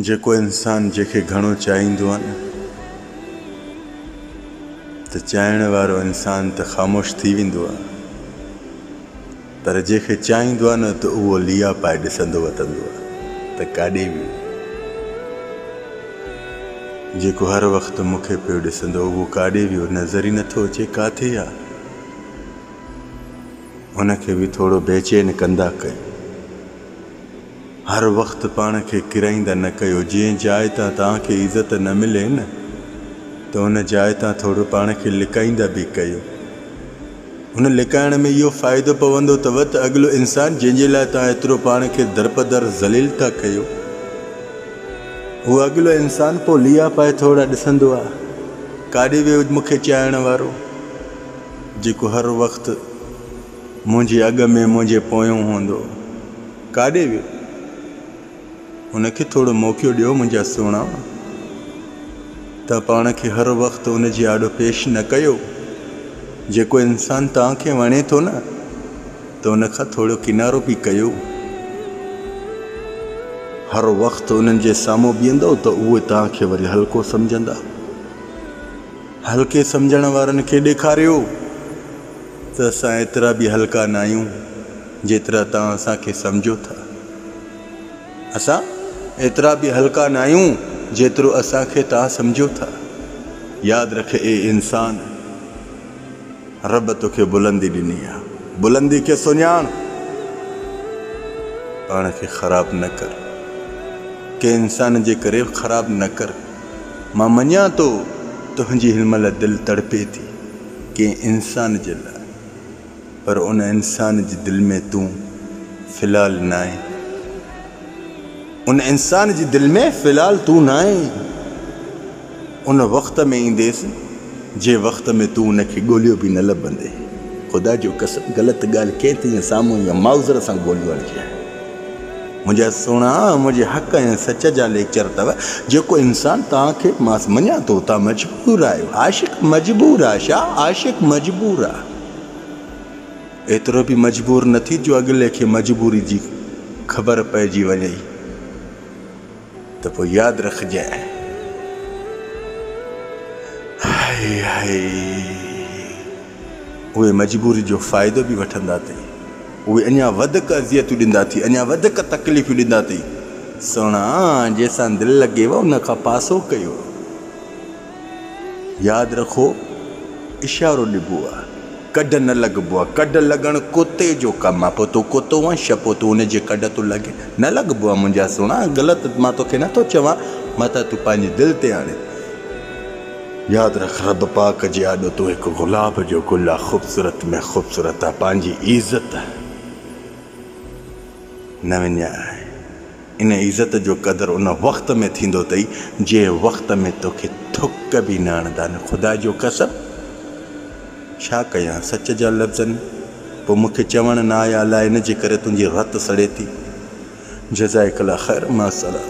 جيڪو انسان جنهن کي گهڻو چاهيندو آهي نه ته چاهڻ وارو انسان ته خاموش ٿي ويندو آهي پر جنهن کي چاهيندو آهي نه ته اهو ليئا پائي ڏسندو وتندو آهي ته ڪاڏي ويئي. جيڪو هر وقت مون کي پيو ڏسندو اهو ڪاڏي ويو نظر ئي نٿو اچي ڪاٿي آهي. ان کي به ٿورو بيچين ڪندا ڪيو. هر وقت پاڻ کي ڪرائيندا نه ڪيو، جنهن جاء تان توهان کي عزت نه ملي نه ته ان جاء تان ٿورو پاڻ کي لڪائيندا به ڪيو. هن لڪائڻ ۾ اهو فائدو پوندو ته وت اڳلو انسان جنهن جي لاء توهان ايترو پاڻ کي درپدر ذليل ٿا ڪيو، اهو اڳلو انسان پوء ليئا پائي ٿورا ڏسندو آ، ڪاڏي ويو مون کي چائڻ وارو، جيڪو هر وقت. منهنجي اڳ ۾ منهنجي پويون هوندو. ڪاڏي ويو؟ هن کي ٿورو موقعو ڏيو منهنجا سهڻا. توهان پاڻ کي هر وقت ان جي آڏو پيش نه ڪيو. جيڪو انسان توهان کي وڻي ٿو نه ته ان کان ٿورو ڪنارو به ڪيو. هر وقت انهن جي سامهون بيهندؤ ته اهي توهان کي وري هلڪو سمجهندا. هلڪي سمجهڻ وارن کي ڏيکاريو ته اسان ايترا به هلڪا ناهيون جيترا توهان اسان کي سمجهو ٿا. اسان ايترا به هلڪا ناهيون جيترو اسان کي توهان سمجهو ٿا. ياد رک اي انسان! رب توکي بلندي ڏني آهي. بلندي کي سڃاڻ. پاڻ کي خراب نه ڪر. ڪنهن انسان جي ڪري خراب نه ڪر. مان مڃان ٿو تنهنجي هن مهل دل تڙپي ٿي ڪنهن انسان جي لاء پر ان انسان جي دل ۾ تون في الحال ناهين ان انسان جي دل ۾ في الحال تون ناهين ان وقت ۾ اينديس جنهن وقت ۾ تون ان کي ڳوليو به نه لڀندي خدا جو قسم غلط ڳالهه ڪنهن تنهنجي سامهون يا ماوزر سان ڳوليو آهي جنهن منهنجا سهڻا منهنجي حق ۽ سچ جا ليڪچر اٿو جيڪو انسان توهان کي مان مڃان ٿو توهان مجبور آهيو عاشق مجبور آهي شاهه عاشق مجبور آهي ايترو به مجبور نه ٿي جو اڳلي کي مجبوري جي خبر پئجي وڃئي. ته پوء ياد رکجانء. هائي هائي اهي مجبوري جو فائدو به وٺندا اٿئي. اهي اڃا وڌڪ اذيتون ڏيندا اٿئي، اڃا وڌڪ تڪليفيون ڏيندا اٿئي. سهڻا جيسان دل لڳيو ان کان پاسو ڪيو. ياد رکو اشارو ڏبو آ ڪڍ نه لڳبو آ ڪڍ لڳڻ ڪتي جو ڪم آ پو تون ڪتو آن ڇا پو تون ان جي ڪڍ تو لڳين نه لڳبو آ منهنجا سهڻا غلط مان توکي نه ٿو چوان متان تون پنهنجي دل تي آڻي ياد رک رب پاڪ جي آڏو تون هڪ گلاب جو گل آ خوبصورت ۾ خوبصورت آ پنهنجي عزت نه وڃائي ان عزت جو قدر ان وقت ۾ ٿيندو تئي جنهن وقت ۾ توکي ٿڪ به نه اڻدان خدا جو قسم ڇا ڪيان سچ جا لفظن پوء مون کي چوڻ نه آيا الاء ان جي ڪري تنهنجي رت سڙي ٿي جزائڪ الله خير مع السلام.